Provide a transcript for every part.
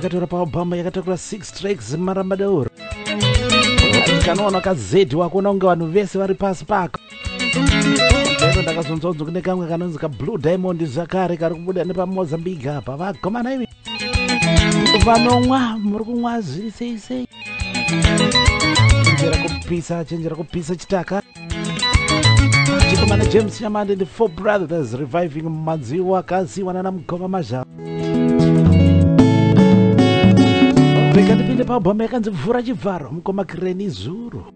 akatora paobama yakatakura 6 tracks marambadauro kanoona kazedi wakuona kunge vanhu vese vari pasi pako lero ndakazonzwa kunzi kune kamwe kanonzi kablue diamond zvakare kari kubuda nepamozambique apa vakomana imi vanomwa muri kunwa zviri sei sei chenjera kupisa chenjera kupisa chitaka chikomana james shamande the four brothers reviving madziwo akaziwa nana mugova mazhava rega ndipinde pabhoma yakanzi vhura chivharo mukoma kireni zuru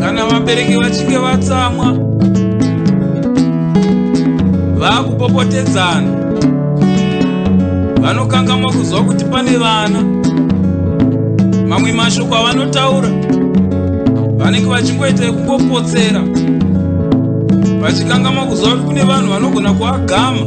kana vabereki vachinge vatsamwa vakupopotedzana vanokangamwa kuziva kuti pane vana mamwe mashoko avanotaura vanenge vachingoita ekungopotsera vachikangamwa kuziva kuti kune vanhu vanogona kuagama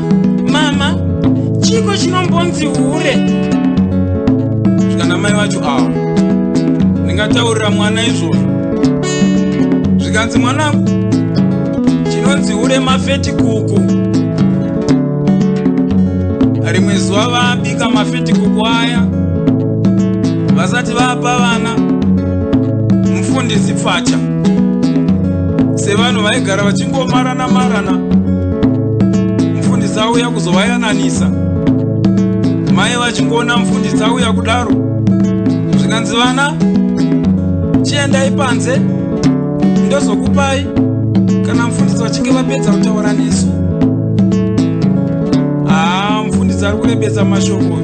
mama chiko chinombonzi hure zvikana mai vacho awa ndingataurira mwana izvozvo zvikanzi mwanangu chinonzi hure mafeti kuku rimwe zuva vabika mafeti kuku aya vasati vapa vana mufundisi pfacha sevanhu vaigara vachingomarana amarana mufundisi auya kuzovayananisa mai vachingoona mufundisi auya kudaro zvikanzi vana chiendai panze ndozokupai kana mufundisi vachinge vapedza kutaura nesu haa mufundisi ari kurebesa mashoko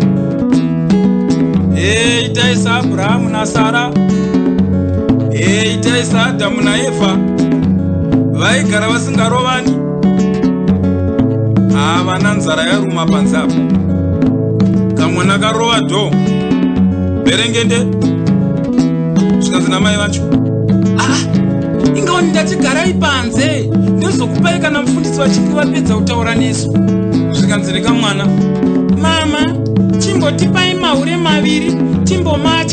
e itai saabrahamu nasara e itai saadhamu naye kufa vaigara vasingarovani havana nzara yaruma panze apo kamwana karova dho berengende zvikanzi namai vacho ah, ingaoni ndati garai panze ndozokupai kana mufundisi vachinge vapedza kutaura nesu zvikanzi rekamwana mama chimbotipai mahure maviri timbomacha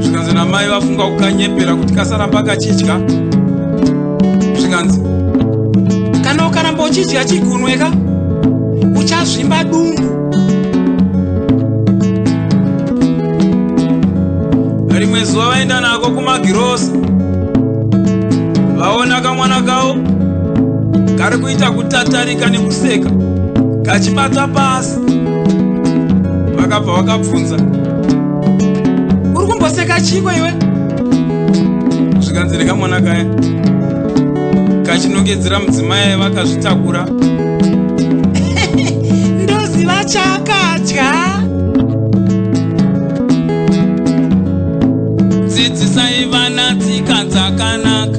zvikanzi namai vafunga kukanyepera kuti kasaramba kachidya zvikanzi kana ukaramba uchidya chigunweka uchazvimba dumbu rimwe zuva vaenda nako kumagirosa vaona kamwana kavo kari kuita kutatarika nekuseka kachibata pasi vakabva vakabvunza uri kumboseka chiko iwe zvikanzi rekamwana kaya kachinongedzera mudzimai vakazvitakura ndoziva chakadya dzidzisai vana tsika dzakanaka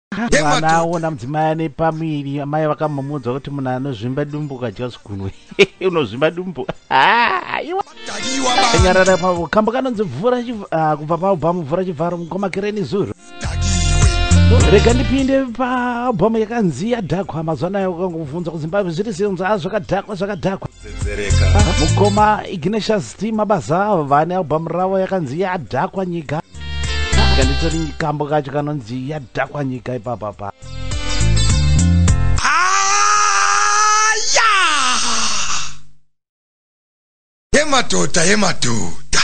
mwana aona mudzimai ane pamuviri amai vakambomuudza kuti munhu anozvimba dumbu ukadya zvigunwe unozvimba dumbu nyarara pavo kambo kanonzi mvura ah, kubva paalbhamu mvura chivharo mukoma kereni zuro rega ndipinde paalbhamu yakanzi yadhakwa mazuva nayo ukangobvunza kuzimbabwe zviri zinza zvakadhakwa zvakadhakwa mukoma ignatius t mabasa vane albhamu ravo yakanzi yadhakwa nyika kanditori kambo kacho kanonzi yadhakwa nyika ipapa pa yemadhodha yemadhodha